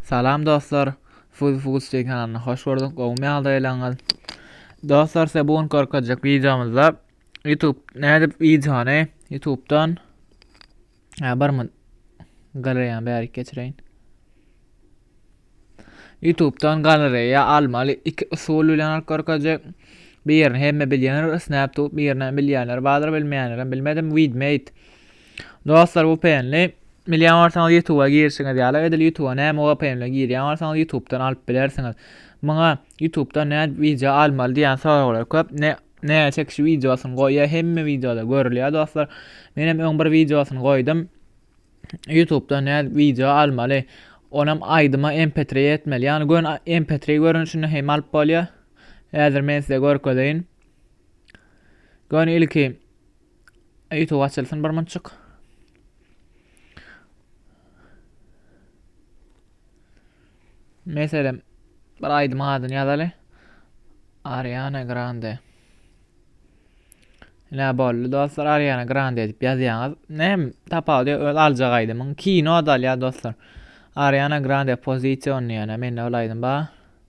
Salam dostlar! Fuzy Fuzy TV kanalyna hoş gördük. Gowumy ýagdaýlaryňyz? Dostlar, size bu gün görkezjek wideomyzda YouTube nädip wideony YouTube'dan ha bir mün galereýany bärik geçireýin. YouTube'dan galereýa almaly iki usul bilen alyp görkezjek. Birini hemme bilýänler, Snap Tube, birini bilýänler bardyr, bilmeýänler hem bilmedim. Widmate Dostlar VPNli Bilýän bolsaňyz Youtube-a girişiňiz ýaly edil Youtube-a näme VPN bilen girýän bolsaňyz Youtube-dan alyp bilersiňiz. Muňa Youtube-da nä wideo almaly diýen soraglar köp. Ne näge çekiş wideosyny goýýa hemme wideoda görülýär dostlar. Men hem öň bir wideosyny goýdum. Youtube-da nä wideo almaly. Onam aýdyma MP3 etmeli. Ýagny gön MP3 görnüşinde hem alyp bolýar. Häzir men size görkezeýin. Gön ilki Ýutube açylsyn bir munçuk. Meselem bir aýdym adyny ýazaly. Ariana Grande. Ne boldy dostlar Ariana Grande edip ýazýaňyz. Nem tapawudy öz aljak aýdymyň kino da alýar dostlar. Ariana Grande pozisyon diýene mende ol aýdym bar.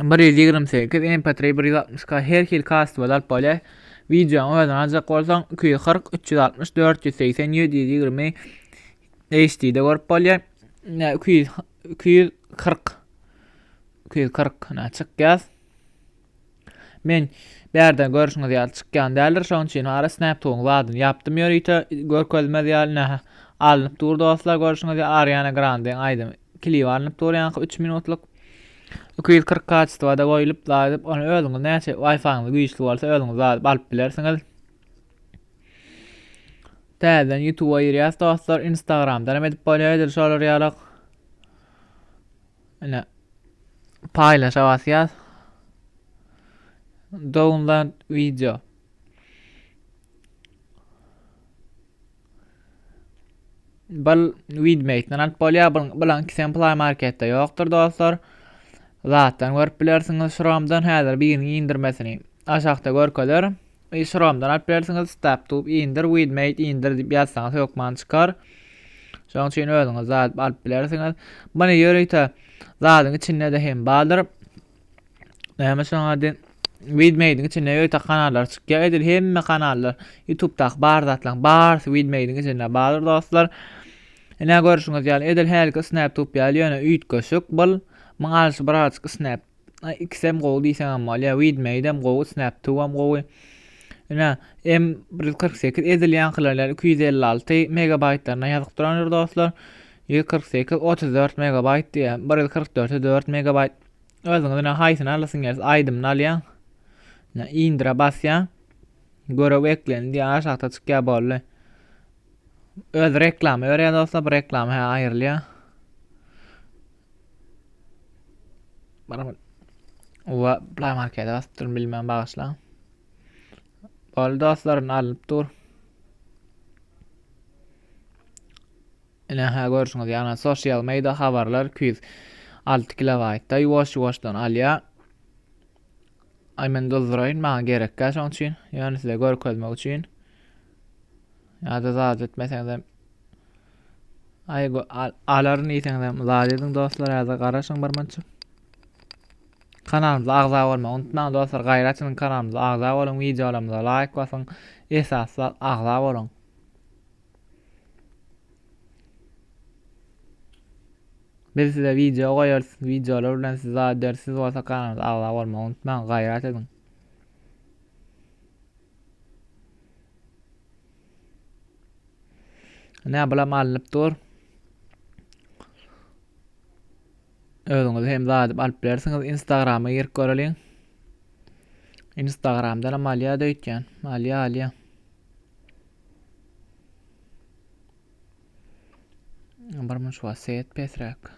bir ýüz ýigrimi sekiz mp bir ýüz altmyş k her hil kastyba dalyp bolýar wideoň özüni aljak bolsaň iki ýüz kyrk üç ýüz altmyş dört ýüz segsen ýedi ýüz ýigrimi hd de görüp bolýar iki ýüz iki ýüz kyrk iki ýüz kyrk çykýar men bärden görüşüňiz ýaly çykýan däldir şonuň üçin ara snaptugyň zadyny ýapdym ýörite görkezmez ýaly alnyp dur dostlar görüşüňiz ýaly ariana grande aýdymy Klip alnyp durýanka üç minutlyk iki ýüz kyrk kaçestwada goýlup zadyp ony özüňiz näçe waýfaýyňyz güýçli bolsa özüňiz zadyp alyp bilersiňiz. Täzeden ýutuba girýäs dostlar instagramdanam edip bolýar edil şolar ýalak. Ine paýlaşa basýas. Download video. Bul widmekden alyp bolýar. Bul bulan kisem play marketde ýokdur dostlar. Zatdan görüp bilersiňiz şuramdan häzir biriniň indirmesini. Aşakda görkezer. E, şuramdan alyp bilersiňiz. Stop tube indir, widmate indir diýip ýazsaňyz hökman çykar. Şoň üçin özüňiz zat alyp bilersiňiz. Muny ýörite zadyň içinde de hem bardyr. Näme şoň ady? Widmediň içinde öýte kanallar çykýar. Edil hemme kanallar YouTube-daky bar zatlaryň barysy Widmediň içinde bardyr dostlar. Ine görüşüňiz ýaly edil hälki Snaptube ýaly ýöne üýtgeşik bul. Muň alşy birazajyk Snap ikisem gowy diýseň hem bolýar. Widmedi hem gowy, Snaptube hem gowy. Ine M148 edil ýaňkylar ýaly 256 megabaýtlaryna ýazyp durandyr dostlar. 148 34 megabaýt diýýär. 144 4 megabaýt. Özüňiz ne haýsyny alasyn gelýär? Aýdymyny alýaň. Ne indire basýaň. Görew eklendi diýýär, aşakda çykýar boldy. Öz reklama berýär dostlar, bu reklama hä aýrylýar. Baraman. Owa, Play Markete basyp durun bilmän bagyşlaň. Boldy dostlarym alnyp dur. Ine-hä, görşüňiz ýaly, sosial meýda habarlar iki ýüz alty kilobaýtda ýuwaş-ýuwaşdan alýar. Aý, men duzduraýyn, maňa gerekkä şoň üçin, ýöne size görkezmek üçin. Ýa-da zat etmeseňizem Aý, alaryn diýseňizem, zat ediň dostlar, ýa-da garaşyň birmunça. Kanalymyza agza bolmagy unutmaň dostlar. Gaýra açyň kanalymyza agza boluň, wideolarymyza laýk basyň. Esasy agza boluň. Biz size video goýarys, videolar bilen siz jogap berip siz bolsa kanalymyza agza bolmagy unutmaň, gaýrat ediň. Nä bulam alnyp dur. Özüňiz hem zadyp alyp bilersiňiz. Instagrama girip göreliň. Instagramdan hem alýa da öýtýän. Alýa, alýa. Birmunç wagt seýet pesräk.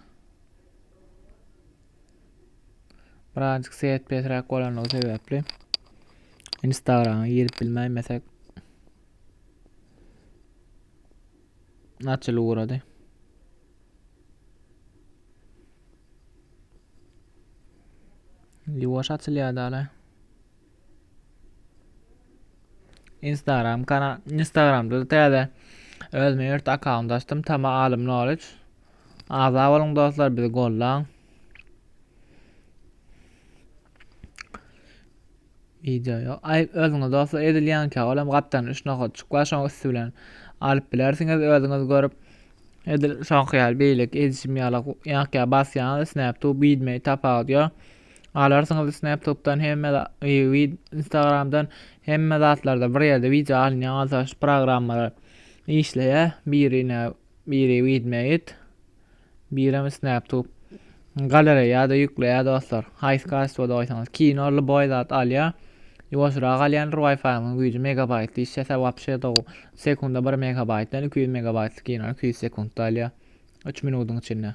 Birazjyk seýet pesräk bolanlygy sebäpli Instagrama girip bilmäýmesek açyl ugrady. Ýuwaş açylýar dala. Instagram kanal Instagramda täze özüme ýurt akkaunt açdym. Tama Alym Knowledge. Agza boluň dostlar, bizi gollan. Video ýok. Ay özüňiz dostlar edilýän ki, olam gapdan 3 nokat çyklar, şoň üstü bilen alyp bilersiňiz özüňiz görüp. Edil şoňky ýaly beýleki edişim ýaly ýaňky ýaly basýaňyz, snap tu bilmeý tapawut ýok. Galarsyňyz snaptutdan hemme instagramdan hemme zatlarda bir ýerde wideo alynýan bolsa şu programmalar işleýär birine biri widmeit birem snaptut galereýada ýükleýär dostlar haýsy kastwoda goýsaňyz kino любой zat alýar ýuwaşrak alýandyr wifi-nyň güýji megabaýt işlese wapşe dow sekunda bir megabaýtdan iki ýüz megabaýtlyk kinony iki ýüz sekundda alýar üç minudyň içinde